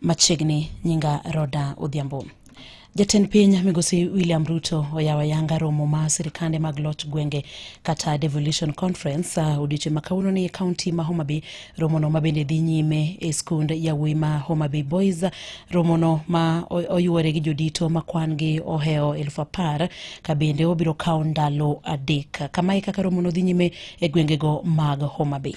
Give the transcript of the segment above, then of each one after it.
machiegni nyinga Roda Odhiambo. Jatend piny migosi William Ruto oyawo ayanga romo ma sirikande mag loch gwenge kata devolution conference uh, odiochieng' ma kawuono ni e kaunti ma Homa Bay. Romono ma bende dhi nyime e skund yawuoyi ma Homa Bay Boys. Romono ma oyuore gi jodito ma kwan gi ohewo elfu apar ka bende obiro kawo ndalo adek. Kamae kaka romono dhi nyime e gwengego mag Homa Bay.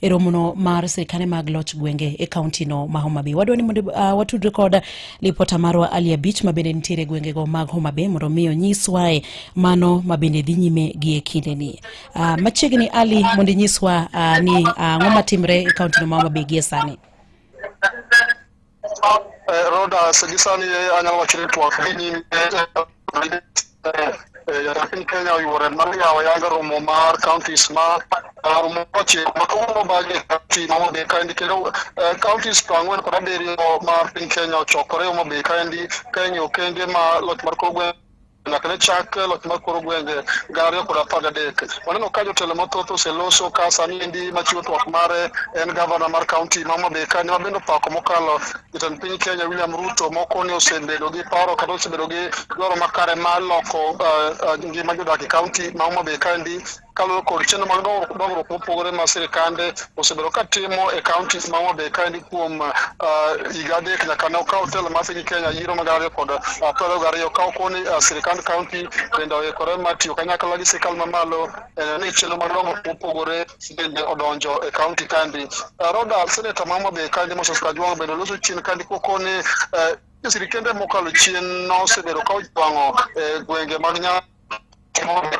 e romono mar sirikane mag loch gwenge e kauntino ma Homa Bay. Wadwa ni mondo uh, watudre kod lipota marwa Ali Abich ma bende nitiere gwengego mag Homa Bay mondo omi onyiswae mano ma bende dhi nyime gi e kindeni. Uh, machiegni Ali mondo inyiswa uh, ni ang'o uh, matimre e kauntino ma Homa Bay gie sani. Roda Sedisan Anal Wakili Tuwakini laakiin kenya ay wareen ma laga yaaba yaaga rumomaar county smart rumoche makumo baage county mama bekaindi kero county strong wen kora deri ma piny kenya ochokore uma bekaindi kenya okenge ma loch mar kogwe nyaka ne chak loch mar koro gwenge gana ariyo kod apar gadek waneno ka jotelo mathoth oseloso ka sani endi machiwo twak mare en gavana mar kaunti ma Homa Bay kani ma bende opako mokalo jatend piny Kenya William Ruto moko ni osebedo gi paro kata osebedo gi dwaro makare mar loko eh, eh, ngima jodak e kaunti ma Homa Bay kaendi kalo kod chenro mag dongruok mopogore ma sirikande osebedo ka timo e kaunti ma Homa Bay kaendi kuom uh, higa adek nyaka ne okaw telo mar piny Kenya yiero mag ariyo kod uh, piero gariyo ka okoni uh, sirikand kaunti bende oikore mar tiyo kanyakla gi sirikal mamalo eh, ni chenro mag dongruok mopogore bende odonjo e kaunti kaendi. Roda seneta ma Homa Bay kaendi Moses Kajwang' bende loso chien kaendi kokoni eh, sirikende mokalo chien nosebedo ka ojwang'o eh, gwenge mag Nyanza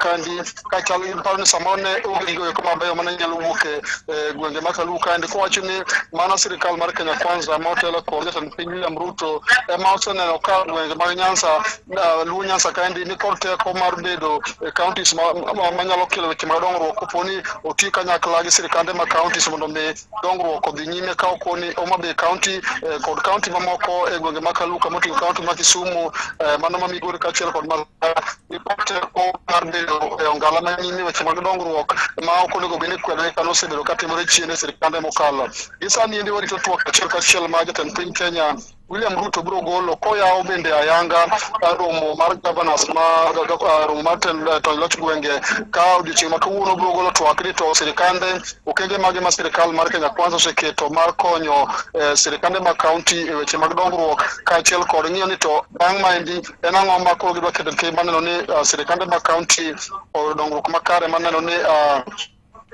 kandi kachal gi paro ni samoro ne onge gigo eko mabeyo mane nyalo wuok e, e gwenge ma Kaluo kaendi kowacho ni mano sirikal mar Kenya Kwanza ma otelo kod jatend piny William Ruto ema oseneno ka gwenge mag Nyanza Luo Nyanza kaendi ni kod teko mar bedo e counties manyalo kelo weche mag dongruok koponi oti kanyakla gi sirikande ma counties mondo mi dongruok odhi nyime ka okoni Homa Bay County eh, kod kaunti mamoko e gwenge ma Kaluka moting'o kaunti ma Kisumu eh, mano ma Migori kaachiel kod ma teko mar bedo e ongala ma nyime weche mag dongruok ma ok onego bed ni kwedore kane osebedo katimore chien e sirkande mokalo. Gi sani endi warito twak achiel kachiel ma jatend piny Kenya William Ruto biro golo koyawo bende ayanga eh, romo mar governors ma eh, eh, romo mar tony loch gwenge ka odiochieng' ma kawuono biro golo twak ni to sirikande okenge mage ma sirikal mar Kenya Kwanza oseketo mar konyo sirikande mag kaunti e weche mag dongruok kaachiel kod ng'iyo ni to bang' maendi en ang'o ma koro gidwa keto e maneno ni sirikande mag kaunti dongruok makare maneno ni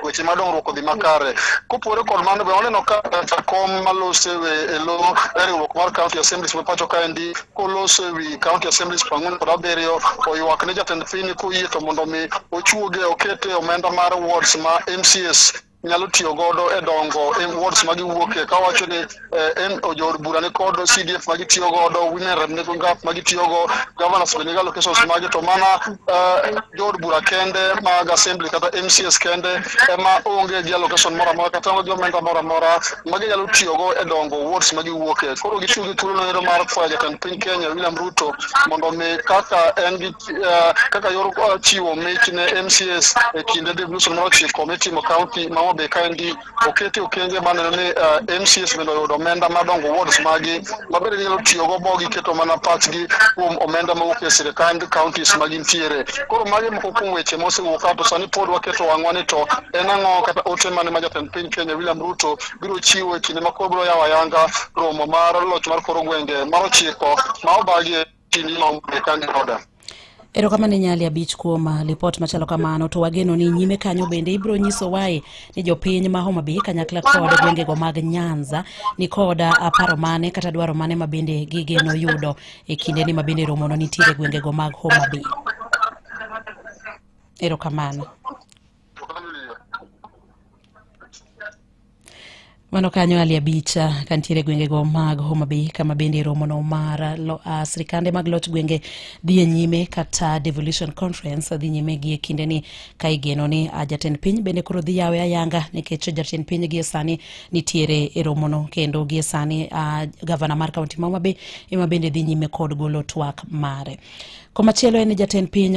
weche ma dongruok odhi makare. Kopore kod mano be waneno ka jakom malose e lo e riwruok mar County Assemblies ma pacho kaendi kolose e wi County Assemblies piero ang'wen kod abiriyo oywak ne jatend piny koyie to mondo mi ochuoge okete omenda mar wards ma MCS nyalo tiyo godo e dongo e wards ma giwuokie kawacho ni eh, en ojood bura ni kod CDF ma gitiyo godo, women rep ni ngap ma gitiyo go, governors bende ga locations mage to mana eh, jood bura kende mag assembly kata MCS kende ema onge gi allocation moro amora kata onge gi omenda moro amora ma ginyalo tiyo go e dongo wards ma giwuoke. Koro gitiyo gi thuolo noero mar kwayo jatend piny Kenya William Ruto mondo mi kaka en gi eh, kaka yor eh, chiwo mich ne MCS e kinde devolution mar ochiko mitimo county ma Homa Bay kaendi okete okenge maneno ni uh, eh, mcs bende oyudo omenda madongo wards magi mabende nyalo tiyogo bo giketo mana pachgi kuom omenda mawuok e sirikand counties magintiere koro magi moko kuom weche mosewuok ka to sani pod waketo ang'wa ni to en ang'o kata ote mane ma jatend piny kenya william ruto biro chiwo e kinde ma koro biro yawo ayanga romo mar loch mar koro gwenge mar ochiko ma obagie Erokamano Nyali Abich kuom uh, lipot machalo kamano, to wageno ni nyime kanyo bende ibiro nyiso wae ni jopiny ma Homa Bay kanyakla kod gwengego mag Nyanza ni kod uh, paro mane kata dwaro mane ma bende gigeno yudo e kinde ni ma bende romono nitiere gwengego mag Homa Bay. Erokamano. Mano kanyo ali abicha kantiere gwengego mag Homa Bay kama bende romono mar lo, uh, sirikande mag loch gwenge dhi e nyime kata devolution conference dhi nyime gi e kinde ni ka igeno ni uh, jatend piny bende koro dhi yawe ayanga nikech jatend piny gie sani nitiere e romono kendo gie sani uh, gavana mar kaunti ma Homa Bay ema bende dhi nyime kod golo twak mare. Komachielo en jatend piny